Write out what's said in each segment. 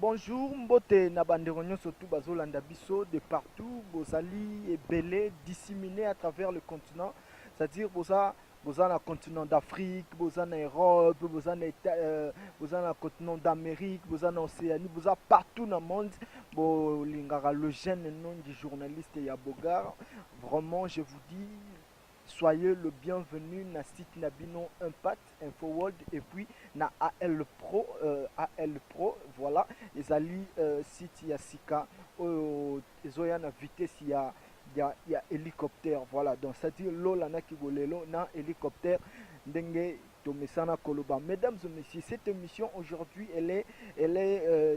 Bonjour, mbote na bandeko nyonso tout bazolanda biso de partout, bozali ebele disséminé à travers le continent, c'est-à-dire boza boza na continent d'Afrique, boza na Europe, boza na euh, boza na continent d'Amérique, boza na Océanie, boza partout na monde. Bolingaka le jeune nom du journaliste ya Bogar. Vraiment, je vous dis Soyez le bienvenu na site na bino Impact Info World et puis na AL Pro euh, AL Pro voilà ezali euh, site ya sika oyo ezoya na vitesse ya ya, ya hélicoptère voilà donc c'est à dire lola na kigolelo na hélicoptère ndenge tomesana koloba mesdames et messieurs cette émission aujourd'hui elle est elle est euh,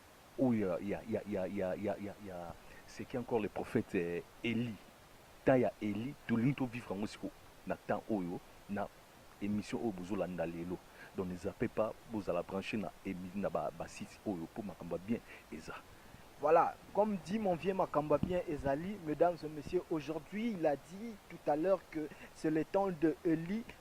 Oyo ya ya ya ya ya ya ya ya ce qui encore le prophète Elie temps ya Elie tolingi to vivre yango siko na temps oyo na emission oyo bozo landa lelo donc ne zappez pas bozala branche na na ba ba sites oyo po makambo ya bien eza. Voilà comme dit mon vieux makambo ya bien ezali mesdames et messieurs aujourd'hui il a dit tout à l'heure que c'est le temps de Elie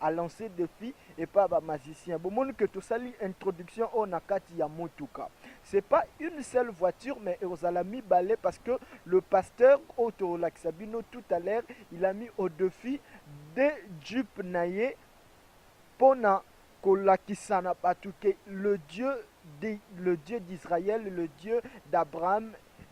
a lance defi epa ba magicien bomoni que tosali introduction oyo na kati ya motuka c'est pas une seule voiture mais ekozala mibale parce que le pasteur oyo tokolakisa bino tout à l'heure il a mis au defi de jeep na ye mpo na kolakisa na bato ke le dieu de, le dieu d'israël le dieu d'abraham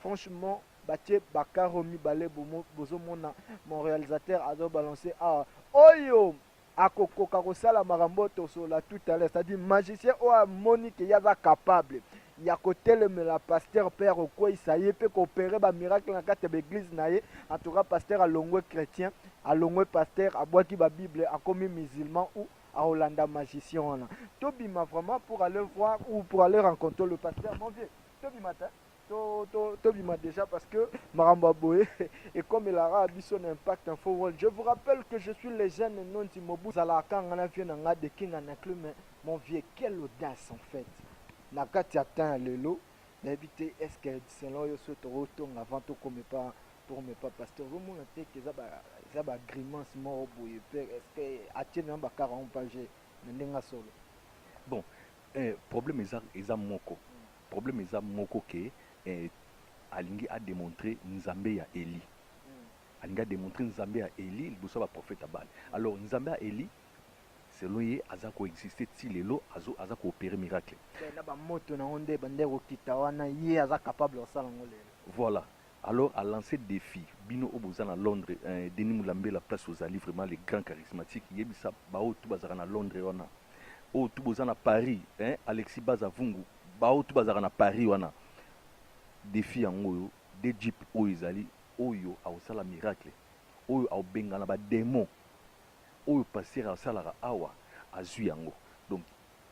Franchement batie ba carro mibale bozo mona mon realisateur azo balance awa oyo akokoka kosala makambo oyo tosolola tout à l'heure c'est-à-dire magicien oyo amoni ke ye aza capable ya kotelemela pasteur mpe ya kokweisa ye mpe koopere bamiracle na kati ya baeglize na ye en tout cas pasteur alongwe chrétien alongwe pasteur abwaki babible akomi musulman ou akolanda magicien wana tobima vraiment pour aller voir ou pour aller rencontrer le pasteur mon vieux tobima te to to to bima déjà parce que makambo boye et comme il aura biso na impact info world je vous rappelle que je suis le jeune nondi mobu zala kanga na vieux na nga de king na clé mais mon vieux quelle audace en fait na kati atteint lelo na éviter est-ce que selon yo soto rotonga avant to comme pas pour me pas parce que vous mon te que ça ba ça ba grimace mort boye est-ce que atie na ba 40 pages na ndenga solo bon eh, problème eza eza moko Problème eza moko que eh, alingi a demontrer Nzambe ya Elie. Alingi a demontrer Nzambe ya Elie liboso ya ba prophètes ya Baal. Alors Nzambe ya Elie selon ye aza ko exister ti lelo, azo aza ko operer miracle. Mais na ba moto na ngo nde ebandaki kokita wana ye aza capable ya kosala ngo lelo. Voilà. Alors a lance defi bino oyo boza na Londres eh Denis Mulambela place ozali vraiment le grand charismatique yebisa ba oyo tout bazalaka na Londres wana oyo tout boza na Paris eh Alexis Baza Vungu ba oyo tout bazalaka na Paris wana defi yango oyo de jeep oyo ezali oyo akosala miracle oyo akobengana ba demon oyo pasteur asalaka awa azui yango donc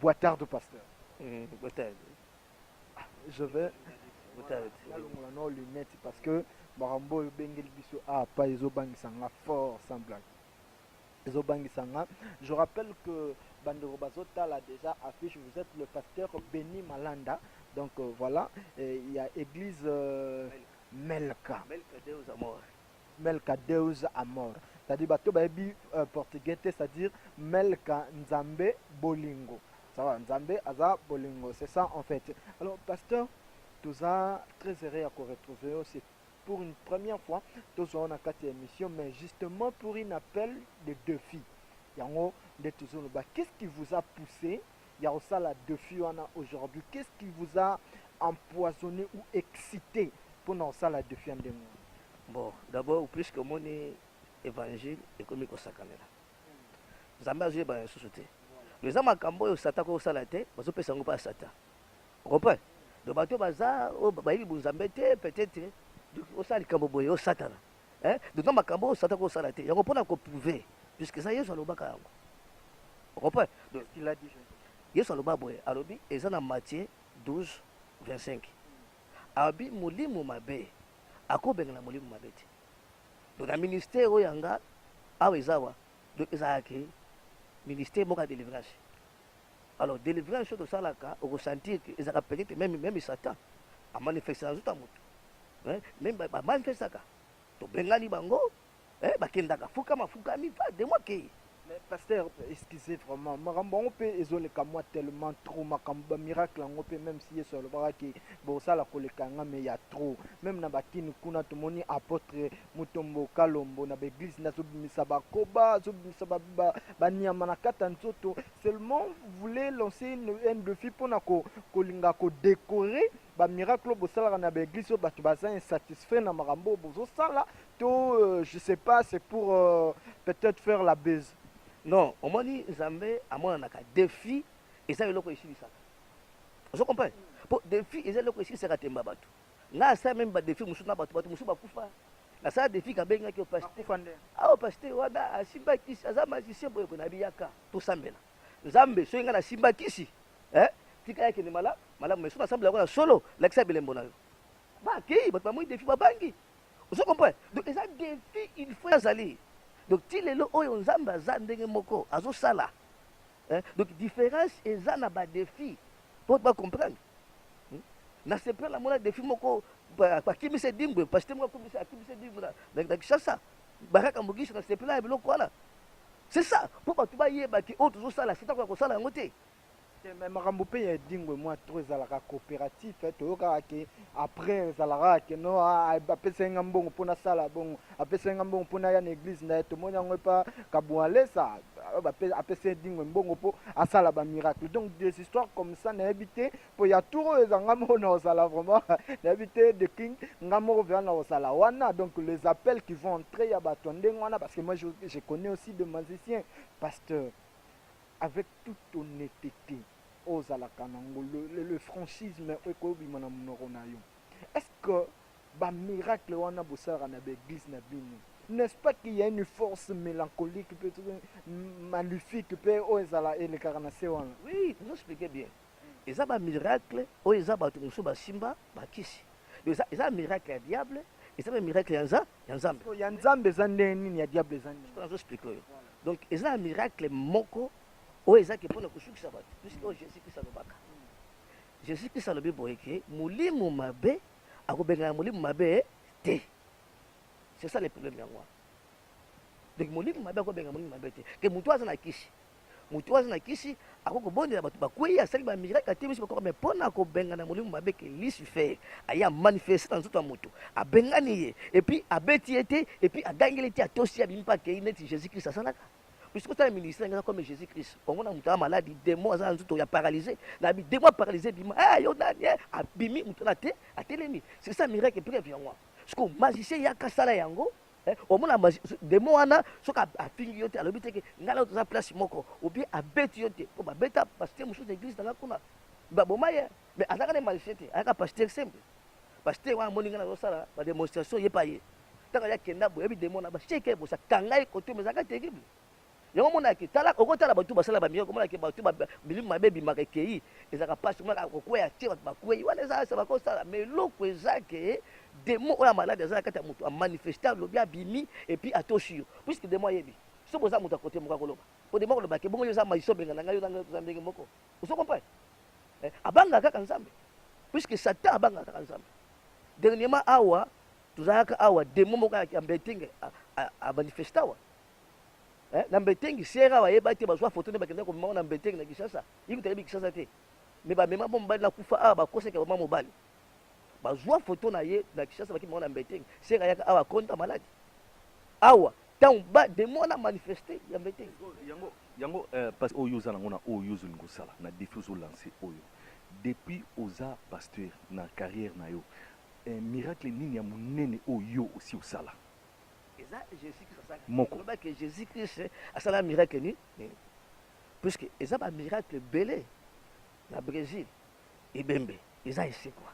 Boa tarde pasteur. Mm, boa tarde. Ah, je vais boa tarde. Nalongola no lunette parce que makambo oyo bengeli biso ah pas ezo bangisa nga fort sans blague. Ezo bangisa nga. Je rappelle que bandeko bazo tala déjà affiche vous êtes le pasteur Benny Malanda. Donc euh, voilà, il y a église euh, Melka. Melka Deus amor. Melka Deus Amor, c'est-à-dire bato bayebi portugais te, c'est-à-dire Melka Nzambe bolingo, ça va, Nzambe aza bolingo, c'est ça en fait. Alors pasteur toza très heureux ya ko retrouver yo, c'est pour une première fois tozwa yo na kati ya émission, mais justement pour une appel de défi yango nde tozoloba, qu'est-ce qui vous a poussé ya kosala defi wana aujourd'hui qu'est ce qui vous a empoisonne ou excite pona kosala defi ya ndenge wana bon d'abord puisque omoni évangile ekomi kosakanela nzambe azoyebana lisusu te me eza makambo oyo satan akoki kosala te bazopesa yango mpa satan okomprendre donc bato baza oyo bayebi bonzambe te peut-être osala likambo boye osatana eh, bino makambo oyo satana kosala te yango mpona koprouve puisque eza yesu alobaka yango okompre yesu aloba boye alobi eza na matie 12 25 alobi molimo mabe akobengana molimo mabe te donc na ministère oyo yanga awa eza wa donc ezalaki ministère moko ya délivrance Alors delivrance oyo tosalaka oko sentir que ezalaka peut être meme meme Satan a manifesta na nzoto ya moto eh, meme ba- ba manifestaka tobengani bango eh, bakendaka fukama fukami fa de moi kei Mais pasteur, excusez vraiment, makambo yango mpe ezoleka mwa tellement trop makambo ba miracle yango mpe même si Yesu alobaka ke bosala koleka nga mais ya trop. Même na bakini kuna tomoni apôtre Mutombo kalombo na ba eglise nde azobimisa ba koba azobimisa ba, ba, ba nyama na kata nzoto seulement vous voulez lancer une, un défi pona ko, kolinga ko décorer ba miracle oyo bosalaka na ba eglise oyo bato baza insatisfait na makambo oyo bozosala to euh, je sais pas c'est pour euh, peut-être faire la buzz non omoni nzambe amonanaka défi eza eloko esilisaka ozo comprendre mpo défi eza eloko esilisaka temba bato Nga asala meme ba defi mususu na batu batu mususu bakufa. Nasala defi kabengaki yo pasteur. Awa pasteur wana asimba kisi aza magicien boye boye nabiyaka tosambela. Nzambe soki nga nasimba kisi eh tika yake ni mala malamu mais soki nasambela kwa solo lakisa bilembo na yo. Ba kei batu bamoni defi babangi. Ozo comprendre? Donc eza defi il faut azali. Donc ti lelo oyo Nzambe aza ndenge moko azosala. Eh, donc difference eza na ba défi po ba comprendre hmm? na sepela mona défi moko bakimisa edingwe pasite moko akimisa akimisa edingwe na kinshasa baraka mogishi na sepela ya biloko wana c'est ça po bato bayeba ke oyo tozosala sitako ya kosala yango te eh, makambo mpe ya edingwe mwa tro ezalaka coopératif eh, toyokaka ke Après ezalaka que non apesaki nga mbongo mpo nasala bongo, apesaki nga mbongo mpo naya na eglise na ye. Tomoni yango epa Kabualesa, apesa Edingwe mbongo mpo asala ba miracle. Donc des histoires comme ça nayebi te mpo ya tour oyo eza nga moko nakozala vraiment nayebi te de king nga moko vraiment nakozala wana. Donc les appels qui vont entrer ya bato ya ndenge wana parce que moi je, je connais aussi des musiciens pasteur avec toute honnêteté ozalaka na ngo le, le franchisme ekoyo bima na munoko na yo est ce que ba miracle wana bosalaka na ba eglise na bino n'est ce pas qu'il y a une force mélancolique peut maléfique pe oyo ezala elekaka na se wana oui vous expliquez bien eza ba miracle oyo eza bato mosusu basimba bakisi eza, eza miracle ya diable eza mpe miracle ya nza ya nzambe ya nzambe eza ndenge nini ya diable eza nini nazo explike oyo donc eza miracle moko Oyo eza ke pona kosukisa bato puisque oyo Jesus Christ alobaka. Jesus Christ alobi boye ke molimo mabe akobengana molimo mabe te. C'est ça le problème yango wana. Donc molimo mabe akobengana molimo mabe te. Ke moto aza na kisi. Moto aza na kisi akoki kobondela bato bakweyi asali ba miracle te biso bakoko mais pona kobengana molimo mabe ke Lucifer aye amanifeste na nzoto ya moto abengani ye epuis abeti ye te epuis agangeli te atosi abimi mpe akei neti Jesus Christ asalaka. Misi kosala ministère ngana comme Jésus Christ. Kongo na mutu maladi, démon aza nzuto ya paralysé. Na bi démon paralysé bima. Eh yo nani eh abimi mutu na te atelemi. C'est ça miracle preuve yango. Siko magicien yaka sala yango. Eh, omona démon wana soki afingi yo te alobi te ke ngai na toza place moko ou bien abeti yo te mpo babeta basite mosusu na église nanga kuna baboma ye Mais azaka ne malfait te, ayaka pasteur simple. Pasteur wana moni nga na sala ba démonstration ye pa ye. Taka ya kenda boye bi demon na ba sheke bosa kanga ye koto mezaka terrible. Yango mona ki tala oko tala batu basala ba miyoko mona ki batu ba milimu mabe bi maka keyi ezaka pasi mona ko kweya tie batu ba kweyi wana eza sa bako sala mais loko eza ke demon oya malade azala kata mutu a manifesta lobi abimi et puis atoshi yo puisque demon yebi so boza mutu a kote moko akoloba po demon koloba ke bongo yo za mayiso benga na ngai yo na ngai toza ndenge moko Ozo comprendre? Eh, abanga kaka Nzambe. Puisque Satan abanga kaka Nzambe. Dernièrement awa tozalaka awa demo moko ya Mbetenge a manifesta awa. Eh, na Mbetenge sera wa yeba te bazwa photo ne bakenda ko mema na Mbetenge na Kinshasa. Yiko tayebi Kinshasa te. Mais ba mema bomba na kufa awa ba koseka mama mobali. bazua photo na ye na Kinshasa baki mwana mbeteng sera yaka awa konta malade awa ntango ba demo wana manifeste ya mbeteng yango yango euh, parce oyo oza nango na oyo ozoli kosala na défi ozolanse oyo depuis oza pasteur na carrière na yo eh, miracle nini ya monene oyo yo osi osala eza jésus christ asala moko lobaki jésus christ asala miracle nini puisque eza bamiracle ebele na brésil ebembe eza esekwa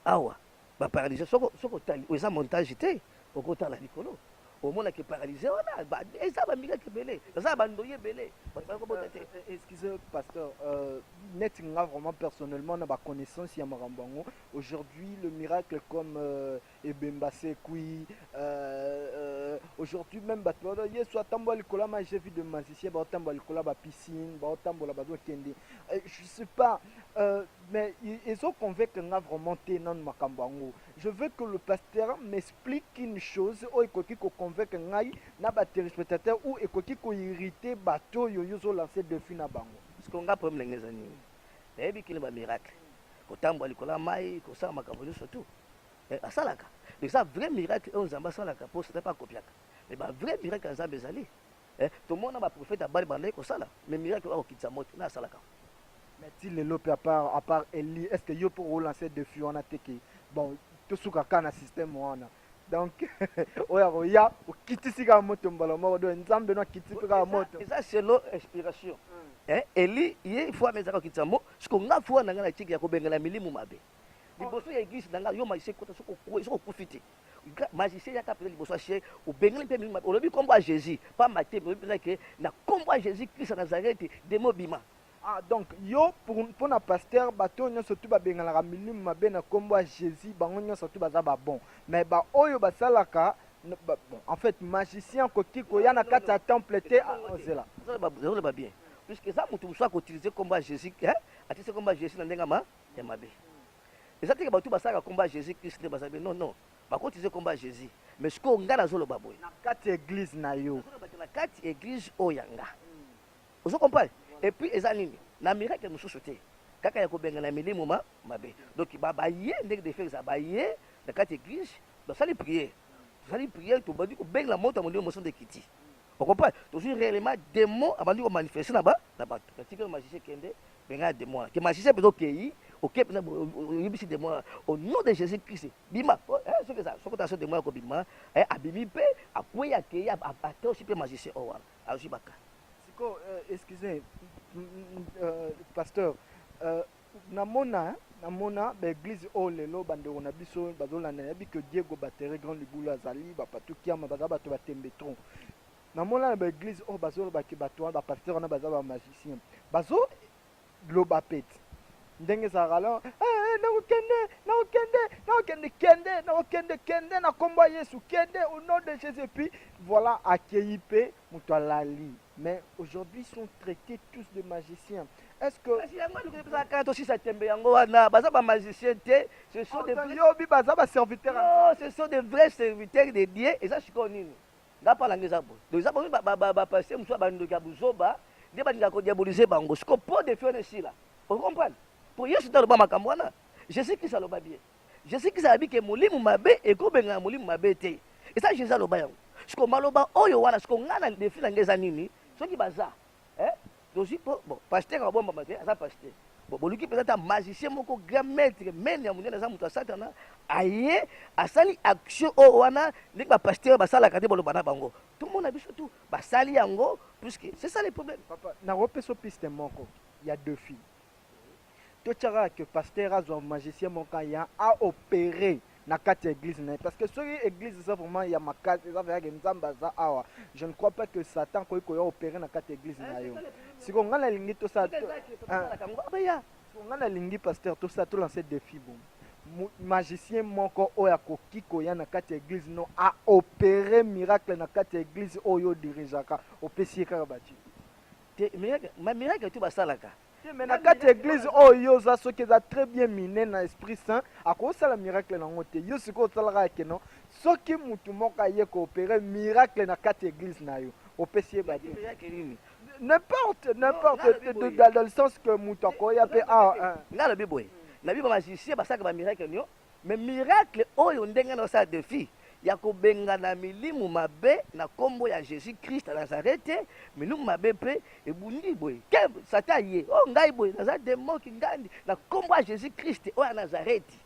awa ba paralyse soko soko tali eza montage te okotala likolo omona ke paralyse wana eza ba mika kebele eza ba ndoye bele bakobota te euh, euh, excuse pasteur euh, net nga vraiment personnellement na ba connaissance ya makambo yango aujourd'hui le miracle comme euh, ebemba sekui euh, euh, aujourd'hui même bato bato yesu atambola likolo ya maje vie de magicien baotambola likolo ya bapiscine baotambola bazokende euh, je sais pas euh, mais ezoconvaincre nga vraiment te nanu makambo yango je veux que le pasteur m'explique une chose oyo ekoki koconvaincre ngai na baterespectateur ou ekoki koirrite bato oyo yo ozolanse defi na bango siko nga problème ndenge eza nini nayebi kini bamiracle kotambola likolo ya mai kosala makambo nyonso tout Mais asalaka. Donc eza vrai miracle oyo Nzambe asalaka po Satan pe akopiaka. Mais ba vrai miracle ya Nzambe ezali. Eh, tomona ba prophètes ya Baal babandaki kosala, mais miracle oyo akokitisa moto nde asalaka. Mais ti lelo pe à part à part Elie, est-ce que yo pe oko lancer defi wana te que bon tosuka kaka na système wana? Donc oyo akoya okitisi kaka moto mbala moko, donc Nzambe no akitisi pe kaka moto. Eza selon inspiration. Eh, Elie ye il faut amesaka kokitisa mo, siko nga foi na nga na tiki ya kobengela milimu mabe. liboso ya eglise na ngai yo magicien kota soki okufi te magicien yaka mpenza liboso ya chien obengeli mpe mingi olobi nkombo ya jésus pamba te olobi mpenza ke na nkombo ya jésus krist ya nazareti demo obima ah donc yo mpo na pasteur bato oyo nyonso tu babengalaka milimu mabe na nkombo ya jésus bango nyonso tu baza babon mais baoyo basalaka bon, en fait magicien akoki koya na kati ya temple te ozela ah, ozela babien puisque eza moto mosusu akoutilize nkombo ya jésus atisi nkombo ya jésus na ndenge ma ya mabe eza teke bato basalaka komba jesus christ nde baza be non non bakotize komba jesus mais sikoyo ngai nazoloba boye na kati ya eglise na yo na kati eglise oyo ya nga ozo comprendre et puis eza nini na miracle mosusu te kaka ya kobengana milimo ma mabe donc baye ndenge defe eza baye na kati eglise basali priere tosali priere tobandi kobengana moto ya molimo mosondo ekiti okompane tozwi réellement démon abandi komanifeste na bato natika magicien kende Benga demon wana. Ke magicien peza okeyi, okeyi peza oyebisi demon wana. Au nom de Jésus Christ, bima. Eh, soki eza, soki taso demon yako bima, eh, abimi pe, akweyi akeyi, atosi pe magicien oyo wana. Azwi baka. Siko, euh, excusez, euh, pasteur, euh, namona, namona ba eglise oyo lelo bandeko na biso bazolanda nayebi ke diego batere grand libulu azali bapatukiama baza bato batembe tron Na mona na ba eglise oyo bazo loba ke batu wana ba pasteur wana baza ba magicien bazo loba pete ndenge ezalaka alors eh, eh, nako kende nako kende nako kende kende nako kende kende na kombo ya Yesu kende au nom de Jésus et puis voilà akeyi pe mutu alali mais aujourd'hui ils sont traités tous de magiciens est-ce que kasi yango aluki mpeza kana tosisa tembe yango wana baza ba magicien te ce sont des vrais- yobi baza ba serviteur non ce sont des vrais serviteurs de dieu eza sikoyo nini Nga pa nanga eza boye donc eza bomi ba ba ba pasteur mususu ba ndoki ya buzoba nde ba linga ko diaboliser bango siko po de fiona esila o comprendre po yesu nda loba makambo wana jesus christ aloba bien jesus christ alobi ke molimu mabe eko benga na molimu mabe te eza jesus aloba yango siko maloba oyo wana siko nga na defi na nga eza nini soki baza eh tozwi po bon pasteur abombama te aza pasteur bon boluki mpenza ata magicien moko grand maître mene ya monene aza moto ya satana aye asali action oyo oh, wana ndenge bapasteur basalaka te boloba na bango tomona biso tu basali yango puisque c'est ça le problème papa nakopesa piste moko ya deux filles to tiaka kaka que pasteur azwa magicien moko kaka ya a operer na kati ya eglise na ye parce que soki eglise eza vraiment ya makasi eza vraiment ke nzambe aza awa je ne crois pas que satan akoki koya opere na kati ya eglise na yo siko ngai nalingi tosala ngai nalingi pasteur tosala tolanse defi bomo mu- magicien moko oyo akoki koya na kati ya eglise no aopere miracle na kati ya eglise oyo odirigeaka opesi ye kaka baji te miracle ma miracle tu basalaka Te mais na kati ya eglise oyo yo oza soki eza très bien mine na esprit saint akosala miracle nango te yo sikoyo osalaka ya keno soki mutu moko aye ko opere miracle na kati ya eglise na yo opesi ye badi n'importe n'importe dans le sens que mutu akoya pe ah nga lobi boye na biba magicien basaka ba miracle nio Mais miracle oyo ndenge nazo sala defi ya ko bengana milimu mabe na kombo ya Jesus Christ ya Nazarete, milimu mabe pe ebundi boye keb! Satan aye o ngai boye naza demon kingandi na kombo ya Jesus Christ oyo ya Nazareti.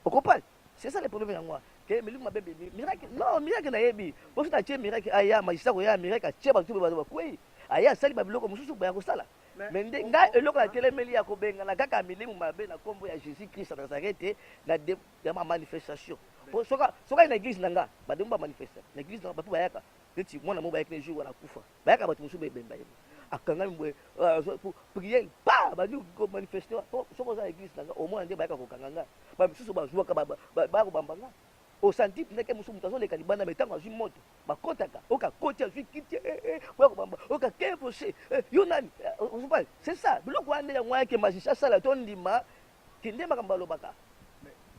O comprendre? C'est ça le problème yango wana ke milimu mabe ebimi. Miracle non, miracle nayebi po soki natie miracle aya magicien akoya miracle atie batu pe bazo bakweyi, aye asali ba biloko mususu baya kosala. Mais nde nga eloko na telemeli ya kobengana kaka milimu mabe na kombo ya Jesus Christ ya Nazareth na de ya ma manifestation. Po soka soka na eglise na nga ba demo ba manifesta na eglise na ba po bayaka neti mwana mo bayaki na jour wana kufa bayaka bato mosusu bebemba ye akangami boye priere pa bandi ko manifeste po soki oza na eglise na nga omona nde bayaka kokanga nga ba misusu bazuaka bayaka kobamba nga osanti mpe ndeke mosusu moto azoleka libanda me ntango azwi moto bakotaka oka koti azwi kiti eh, eh, eh, boya kobamba oka kevose yo nani ozopale c'est ça biloko wana nde yango wana ke magicien asala to ndima kende makambo alobaka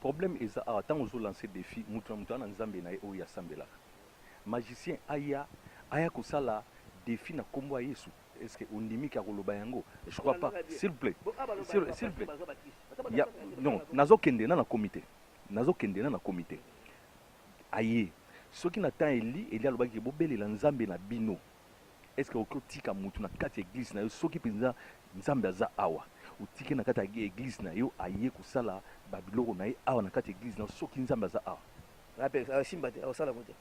problème eza awa ntango ozolanse défi moto na moto ana nzambe na ye oyo asambelaka magicien aya aya kosala défi na nkombo ya yesu est ce que ondimi ke akoloba yango je crois pas s'il vous plaît s'il vous plaît non nazokende na na komite nazokende na na komite aye soki na temps Elie Elie alobaki ke bobelela nzambe na bino est ce que okoki otika mutu na kati ya eglise na yo soki penza nzambe aza awa otiki na kati ya eglise na yo aye kosala ba biloko na ye awa na kati ya eglise na yo soki nzambe aza awa Ape akosimba te, akosala yango te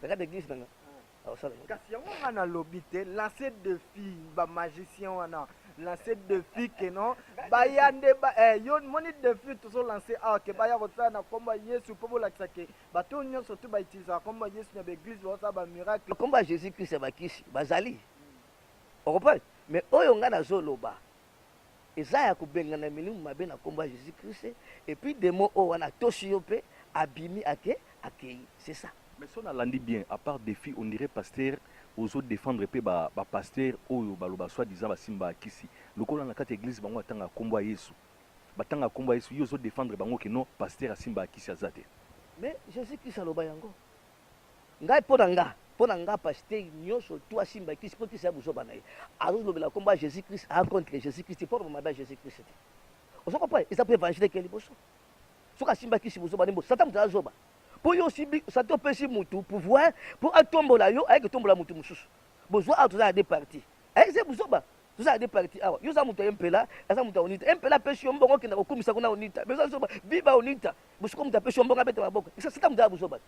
na kati ya eglise na nga. kasi yango nga nalobi te lance defi bamagicien wana lance defi ke non baya nde eh, yo moni defi tozo lance awa ke baya kosala na nkombo ya yesu mpo bolakisa ke bato oyo nyonso tu bautilisaka nkombo ya yesu na baeglise baosala bamiracle nkombo ya jésus christ ya bakisi bazali okompane mais oyo nga nazoloba Eza ya kobengana milimu mabe na kombo ya Jesus Christ et puis demon oyo wana atosi yo pe abimi ake akeyi c'est ça. Mais soki na landi bien a part defi on dirait pasteur ozo defendre pe ba ba pasteur oyo ba loba soit disant ba simba kisi lokola na kati ya eglise bango ba tangaka kombo ya yesu ba tangaka kombo ya yesu yo ozo defendre bango que non pasteur a simbaka kisi aza te. Mais Jesus Christ aloba yango. Ngai pona nga pona nga pasteur nioso tu asimba kisi po kisi ya buzoba na ye azo lobela kombo ya Jesus Christ a contre Jesus Christ po aloba mabe ya Jesus Christ te ozo comprendre eza po evangile ke liboso soki asimba kisi buzoba nimbo satan mutu aza zoba po yo osimbi satan opesi mutu pouvoir po atombola yo ayeke tombola mutu mosusu bozwa awa toza na deux parties ayeke buzoba Toza na deux parties awa. Yo za mutu ya mpela, aza mutu ya onita. Mpela apesi yo mbongo okenda kokumisa kuna onita. Mais oza zoba, viva onita. Bosiko mutu apesi yo mbongo abeta maboko. Isa sita mutu ya buzoba.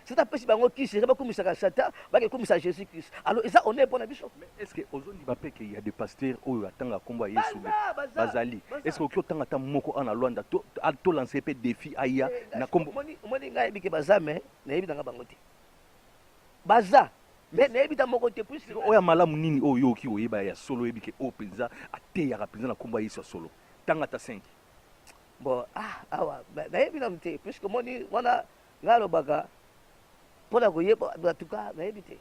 Sita apesi bango kisi, eza bakumisaka sata, bake kumisa Jesus Christ. Alors eza honneur pona biso. Mais est-ce que ozo ndima pe que ya de pasteur oyo atanga kombo ya Yesu be? Bazali. Est-ce que oki otanga ta moko ana Luanda to to lancer pe défi aya na kombo. Moni ngai bike bazame, na yebi nanga bango te. baza mais nayebi ta moko te puisque oyo ya malamu nini oyo yo oki koyeba ya solo oyebi ke oyo mpenza ateyaka mpenza na nkombo ya yesu ya solo tanga ata 5 bon ah, awa na- nayebi nanu te puisque moni wana ngai alobaka mpo na koyeba batuka nayebi te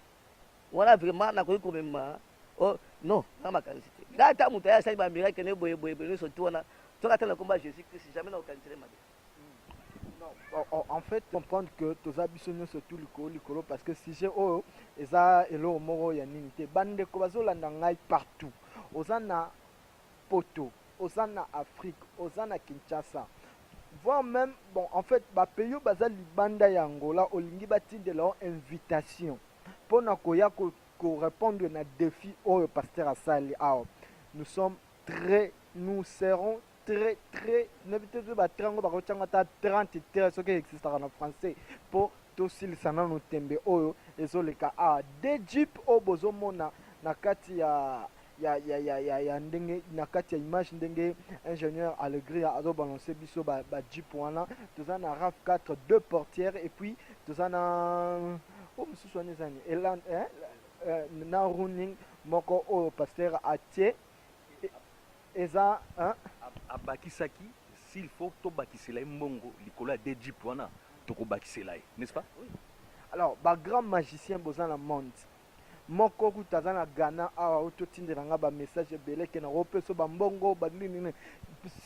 wana vraiment nakoki komema oh, non na makanisi te ngai ata moto aye asali bamiracle ne boye boye boye nyonso tu wana soki ata na nkombo ya jésus christ jamais nakokanisele mabe en fait comprendre que toza biso nyonso tu likolo likolo parce que sujet oyo eza eloko moko ya nini te bandeko bazolanda ngai partout oza na poto oza na afrique oza na kinshasa voire même bon en fait bapays oyo baza libanda ya angola olingi batindela yo invitation mpo na koya korépondre ko na défi oyo pasteur asali awa nous sommes très nous serons très très nayebi te soki batrait yango bakotia yango ata 30 très soki existaka na français mpo tosilisa nano tembe oyo ezoleka a ah, de jeep oyo bozomona na kati ya ya, ya, ya, ya, ya ndenge na kati ya image ndenge ingénieur alegria azobalance biso ba, ba jeep wana toza na raf 4 deux portières et puis toza na oyo oh, mosusu wana ezani elan eh, eh, na running moko oyo pasteur atie eza hein. Abakisaki s'il faut to bakisela ye mbongo likolo ya deux jeep wana toko bakisela ye n'est-ce pas? Oui. Alors ba grand magicien boza na monde moko kutu aza na Ghana awa oyo totindela ngai ba message ebele ke nako peso ba mbongo ba nini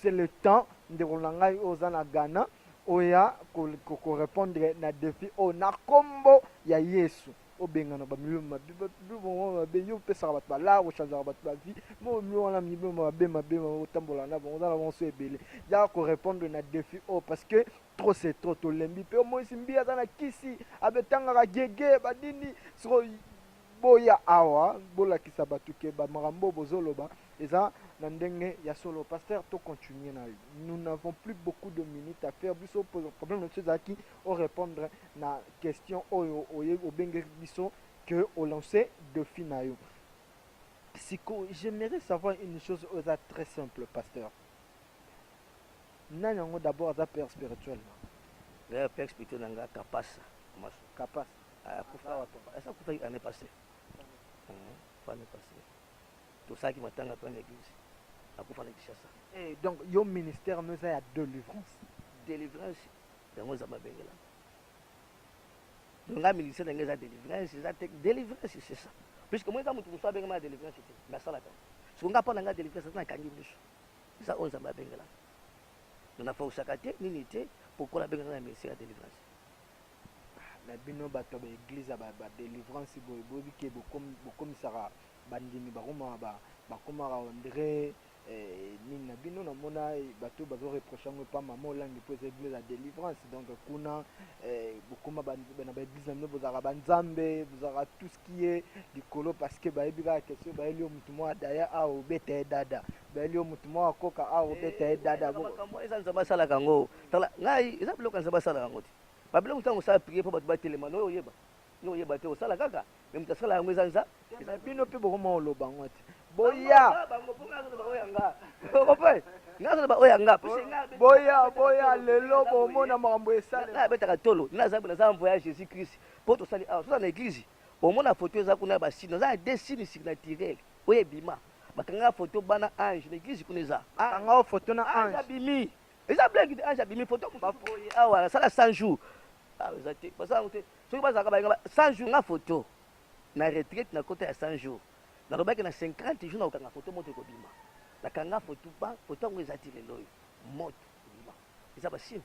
c'est le temps ndeko na ngai oyo oza na Ghana oya ko, ko, ko répondre na défi oyo na kombo ya Yesu. obengana ba milio mabe ba milio moko mabe yo opesaka bato balar ochangeaka bato ba vie mo milio wana milio mabe mabe otambola na bango oza na bango so ebele yaka korepondre na defi oyo parce que trop c'est trop tolembi mpe omonisi mbi aza na kisi abetangaka gege banini siko boya awa bolakisa bato ke bamakambo oyo bozoloba eza na ndenge ya solo pasteur to continue na yo nous n'avons plus beaucoup de minutes à faire biso problème na biso ezalaki o repondre na question oyo oye obengeli biso que o lancer defi na yo siko j'aimerais savoir une chose oyo eza très simple pasteur nani yango d'abord aza père spirituel na D'ailleurs, père spirituel na nga kapasa masu kapas akufa Aza wapi? asa akufaki année passée akufa année passée tosalaki matanga mpe na église akufa na kinshasa Eh, donc yo ministère no eza ya delivrance délivrance Yango eza mabengela. Donc nga ministère na nga eza délivrance, eza te délivrance c'est ça. Puisque moi eza mutu musu abenga ma délivrance te, mais asala ka. Siko nga pona nga délivrance eza na kangi misu. Eza onza mabengela. Donc na fausaka te nini te pokola benga na ministère ya délivrance. na bino bato ya baeglize ya badelivrance boye boyebi ke bokomisaka bandimi bakomaka bakomaka ondre Eh, nini na bino namona eh, bato oyo bazo reproche yango epa mama olangi mpo eza eglise ya délivrance donc kuna eh, bokoma ba- ba- na baeglise na bino bozalaka banzambe bozalaka tout ce qui est likolo parce que bayebi kaka question bayeli yo motu moko adaya awa obeta ye dada bayeli yo motu moko akoka awa obeta ye dada Bo- makambo eza nzambe asalaka yango tala ngai eza biloko ya nzambe asalaka yango te babiloko ntango osala prie mpo bato batelema noyo oyeba Yo oyeba te osala kaka mais moto asala yango eza nza mais bino pe boko mo loba ngo te boya bango po ngazo loba oya nga oko pe ngazo loba oya nga boya boya lelo bomona makambo esala na betaka tolo na zambe na zambo ya Jésus Christ po to sali awa soza na église omona photo eza kuna ba sino za des signes surnaturels oyo ebima bakanga photo bana ange na église kuna eza bakanga photo na ange abimi eza blague de ange abimi photo ba awa sala 100 jours ah eza te baza te Soki bazalaka balinga ba 100 jours nga photo na retraite na kota ya 100 jours na lobaki na 50 jours na kokanga photo moto ekobima na kanga photo ba photo yango eza ti lelo oyo moto ekobima eza ba signe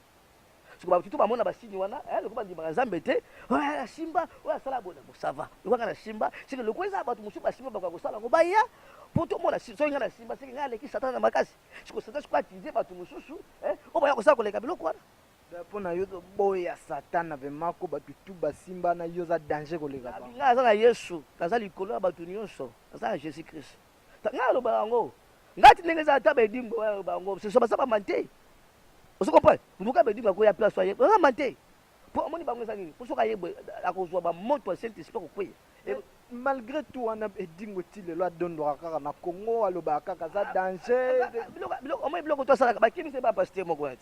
siko ba tutu bamona ba signe wana eh lokola ndimaka nzambe te oya ya simba oya sala bona bo ça va lokola nga na simba siko lokola eza bato mosusu ba simba bakoka kosala ngo baya poto mona soki nga na simba siko nga aleki satana na makasi siko satana siko atize bato mosusu eh oyo baya kosala koleka biloko wana Drapeau na yo to boy ya satana vraiment ko batu tout basimba na yo za danger koleka ba. Nga aza na Yesu, naza likolo ya batu nionso, naza na Jesus Christ. Nga naloba yango. Nga ti ndenge eza ta bedingo ba loba yango, c'est soba saba mante. Ozo comprendre? Mbuka bedingo akoya place aye. Oza mante. Po amoni bango eza nini? Po soka ye akozwa ba moto ya Saint Esprit kokueya. Et malgré tout wana edingo ti lelo adondwaka kaka na congo alobaka kaka aza danger biloko omoni biloko to asalaka bakimisa ye ba pasteur moko wana te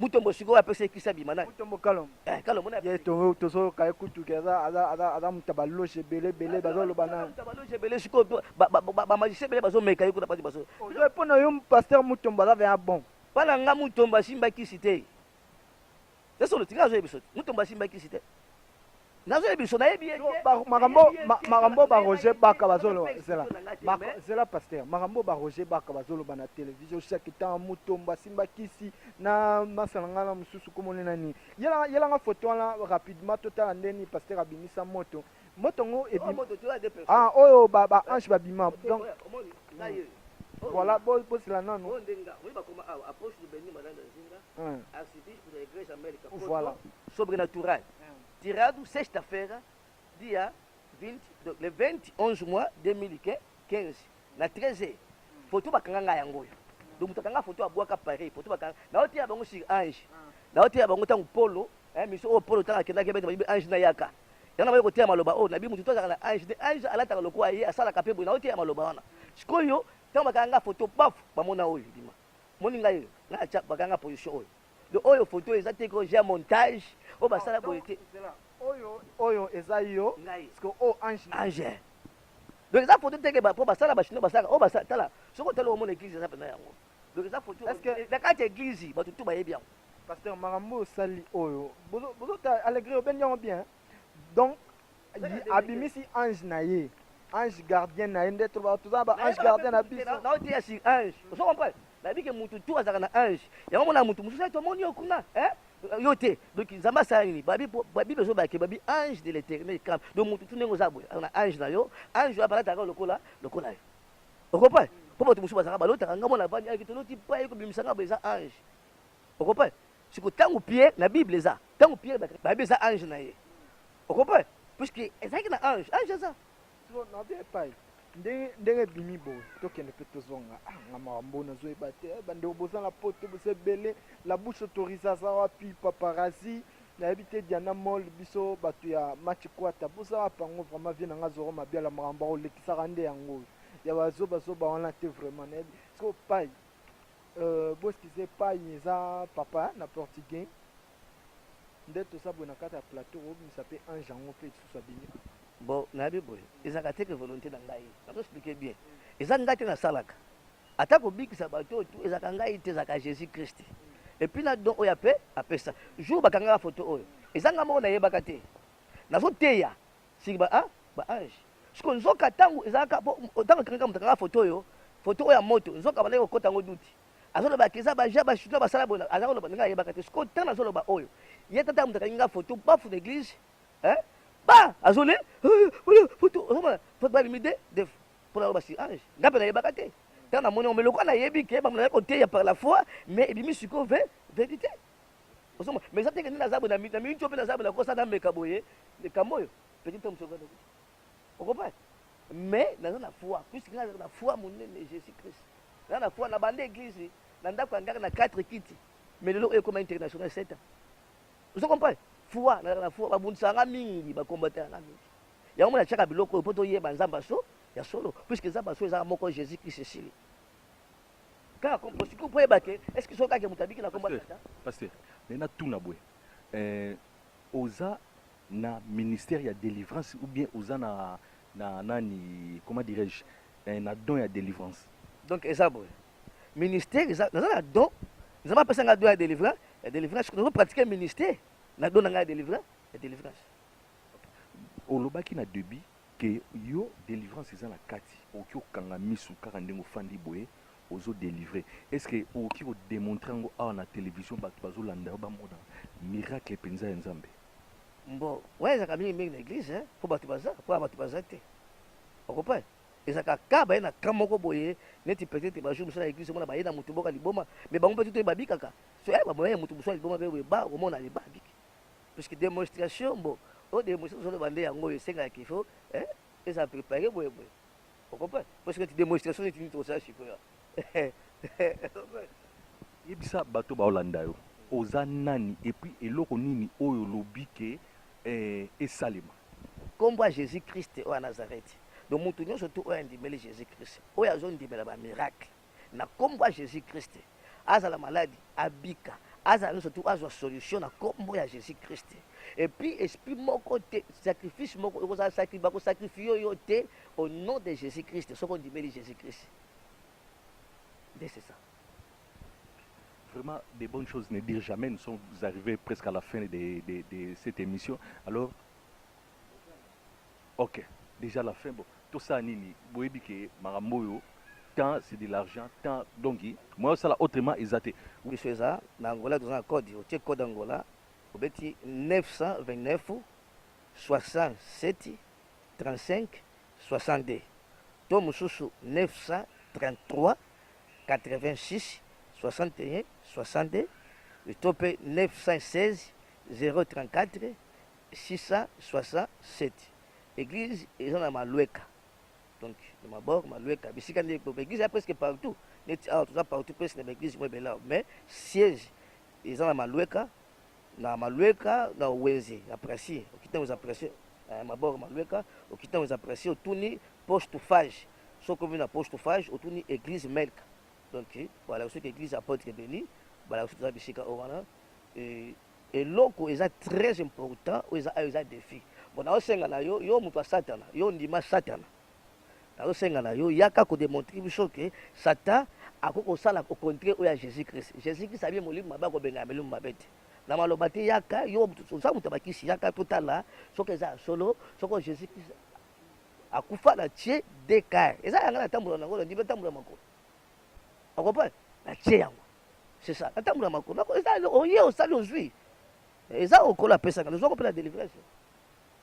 Mutombo sikoyo apesa ye kisi abima naye. Mutombo Kalombo. Eh Kalombo na. Ye tongo tozo kaye kutu ke aza aza aza aza muta ba loge ebele ebele bazo loba na. Muta ba loge ebele sikoyo ba ba ba magicien ebele bazo meka ye kuna bazo bazo. Ozo pona yo pasteur Mutombo aza vraiment bon. Pona nga Mutombo asimba kisi te. Sasa olotika azo yebisa te. Mutombo asimba kisi te. Nazo yeba biso nayebi ye te makambo makambo ba Roger Baka bazo loba zela bako zela pasteur makambo ba Roger Baka bazo loba na television chaque temps mutomba simba kisi na masala nga na mususu komo ne nani yela yela nga photo wana rapidement totala ndeni pasteur abimisa moto moto ngo ebi ah oyo ba ba ange babima donc voilà bo bosila nanu mm. archiviste de l'Eglise America voilà sobrenatural mm. tirado sexta-feira dia 20 donc le 20 11 mois 2015 na 13 heures mm. foto bakanga ngai yango oyo donc moto akanga foto abwaka paris foto bakanga naoteya bango sur ange mm. naoteya bango ntango polo eh, miso oyo polo ntango akendaki bete bayibi ange nayaka yango nakoki koteya maloba oyo nabi moto to azalaka na ange ange alataka lokola ye asalaka mpe boye naoteya maloba wana sikoyo ntango bakanga foto baf bamona oyo dima Omoni ngai oyo ngai na tia bakanga position oyo do oyo photo oyo eza te ko j'ai montage oyo basala boye te oyo oyo eza yo ngai siko o oh, ange ange donc eza photo te ke ba po basala ba chinois basala oyo basala tala soko tala omona église eza pena yango donc eza photo est-ce que na kati église bato tout bayebi yango pasteur makambo osali oyo bozo bozo ta allegre obendi yango bien donc abimisi ange na ye ange gardien na ye nde toza ba ange gardien na biso na oteya sur ange ozo comprendre nayebi ke mutu tu azalaka na ange yango mona mutu mosusu ete omoni yo kuna eh? yo te donc nzambe asala nini babible ezobake babi ange de l'éternel camp donc mutu tu ndenge oza boye na ange na yo ange oyo apalataka lokola lokola yo okompane mpo bato mosusu bazalaka balotaka ngai mona avandi ayaki toloti pa ye kobimisa ngai boye eza ange okompane Siko tangu Pierre na bible eza tangu Pierre ba bayebi eza ange na ye o comprendre puisque ezalaki na ange ange eza Siko na bia epai ndenge ndenge ebimi boye tokende mpe tozonga ah, nga makambo nazoyeba te eh, bandeko boza na poto boza ebele la bouche autorise aza wapi paparazi nayebi te diana mol biso bato ya match kwata boza wapi yango vraiment vie na nga zoro mabiala makambo akolekisaka nde yango oyo ya bazobazoba wana te vraiment nayebi siko pai Euh, boskize epai eza papa na portugais nde toza boye na kati ya plateau kobimisa mpe ange yango mpe lisusu abimi bon nayebi boye ezalaka te ke volonté na ngai nazo explike bien eza ngai te nasalaka ata kobikisa bato oyo tu ezalaka ngai te ezalaka jésus christ epuis na don oyo ape apesa jour bakangaka foto oyo eza ngai moko nayebaka te nazoteya Siki ba ah ba ange siko nzoka tangu ezalaka po tangu tangaka moto kaka photo oyo photo oyo ya moto nzoka bandaki kokota yango duti azoloba keza ba ja ba chinois basala boye aza koloba ndenge ayebaka te siko tana azoloba oyo ye tata moto akangi nga photo bafu na église hein ba azole photo ozomona photo ba limite def pona loba si ange nga pe nayebaka te tana moni omeloka nayebi ke ba mona koteya par la foi mais ebimi siko ve verite ozo mo mais zateke nina zabu na mi na mi ncho pe na zabu na kosa na meka boye kamboyo petit homme sokana o comprend mais naza na foi puisque nga na foi monene Jésus Christ na na foi na bande église na ndako ya ngaka na 4 kiti mais lelo oyo ekoma international 7 ans ozo comprend foi na na foi babundisa nga mingi ba combattre nga mingi yango mona chaka biloko oyo poto yeba nzamba so ya solo puisque nzamba so eza moko Jésus Christ esili kaka kompo sikoyo mpo oyeba ke eske soki kaka moto abiki na kombo tata pasteur me natuna boye eh, oza na ministère ya délivrance ou bien oza na na nani comment dirais-je eh, na don ya délivrance donc eza boye ministère eza naza na don nzambe apesa ngai don ya délivrance ya délivrance nazo pratique ministère na don na ngai ya délivrance ya délivrance olobaki na debut que yo delivrance eza na kati okoki okanga misu kaka ndenge ofandi boye ozo delivre est ce que okoki ko demontre yango awa na television batu bazo landa yo bamona miracle penza ya nzambe Bon, ouais, ezalaka mingi mingi na eglise hein, mpo bato baza mpo ya bato baza te okompane ezalaka ka baye na ka moko boye neti peut-être bajour mosusu na eglise omona baye na moto moko ya liboma mais bango mpe tutu babikaka so ya bamoya ya moto mosusu ya liboma mpe boye ba omona leba abiki Puisque demonstration bon o demonstration ozo loba nde yango oyo esengaka qu'il faut eh eza prepare boye boye o comprendre parce que demonstration neti nini tokosala sikoyo yebisa bato baolanda yo oza nani et puis eloko nini oyo olobi ke eh, esalema nkombo ya jésus christ oyo ya nazareti donc moto nyonso tu oyo andimeli jésus christ oyo azondimela bamiracle na kombo ya Jesus Christ azala maladi abika azala nyonso tu azwa solution na kombo ya Jesus Christ et puis esprit moko te sacrifice moko ekozala sakri bako sacrifier yo te au nom de Jesus Christ soki ondimeli Jesus Christ nde c'est ça Vraiment, des bonnes choses ne dire jamais. Nous sommes arrivés presque à la fin de, de, de cette émission. Alors, Ok dejà la fin bon tosala nini boyebi ke makambo oyo temps c'est de l'argent temps donc moyen osala autrement eza te. Biso eza na Angola toza na code otie code Angola obeti 929673562 to mususu 933866162 to pe 916034 667 eglise eza na malueka donc na mabor malueka bisika nde po eglise ya presque partout neti awa toza partout presque na baeglise mo ebele mais siège eza na malueka na malueka na wenze ya presi okita wenze ya presi eh, mabor malueka okita wenze ya presi otuni poche to fage soki omi na poche to fage otuni eglise melka donc balakisi soki eglise apotre beni balakisi toza bisika oyo wana Eloko eza très important oyo eza awa eza defi bon nazo senga na yo yo mutu ya satana yo ondima satana nazo senga na yo yaka ko demontre biso que satan akoki kosala au contraire oyo ya Jesus Christ Jesus Christ abie molimo mabe akobengana milimo mabe te na maloba te yaka yo mutu oza mutu ya bakisi yaka totala soki eza ya solo soki Jesus Christ akufa na tie DK eza yanga na tambola na yango na ndimi tambola makolo Au comprendre Na tie yango. C'est ça. Ata muna mako. Mako eza oye osali ozui. Eza okola apesa nga. Nazwa ko pela délivrance.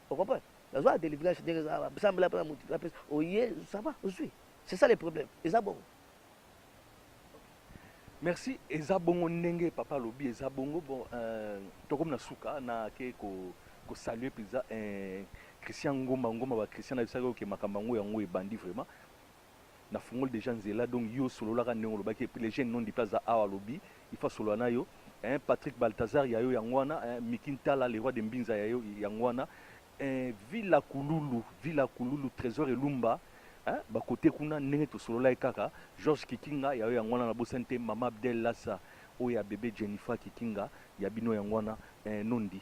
Au comprendre Nazwa délivrance ndenge eza ba sambela pela mutu la pesa. Oye ça va ozui. C'est ça le problème. Eza bongo. Merci eza bongo ndenge papa lobi eza bongo bon euh, tokomi na suka na ke ko ko saluer pizza euh, Christian Ngoma Ngoma ba Christian na bisaka oke makambo yango yango ebandi vraiment Na fungoli dejà nzela donc yo solola ka ndenge olobaki et puis le jeune nondipe aza awa alobi il faut asolola nayo eeh Patrick Balthazar yayo yango wana eeh Micky Ntala le roi de Mbinza yayo yango wana eeh Villa Kululu Villa Kululu Tresor Elumba eeh ba cote kuna ndenge tosololaki kaka Georges Kikinga yayo yango wana nabosani te Mama Abdel Lassa oyo ya bebe Jennifer Kikinga ya bino yango wana eeh Nondi.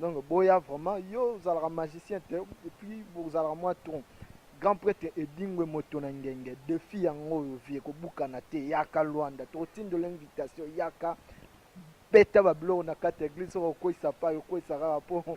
Donc boya vraiment yo ozalaka magicien te et puis bozalaka mwa tronc grand prêtre edingwe moto na ngenge defi yango oyo vi ekobukana te yaka lwanda tokotindola invitation yaka beta babiloko na kati ya eglise soki okoisa pai okoisa kaka mpo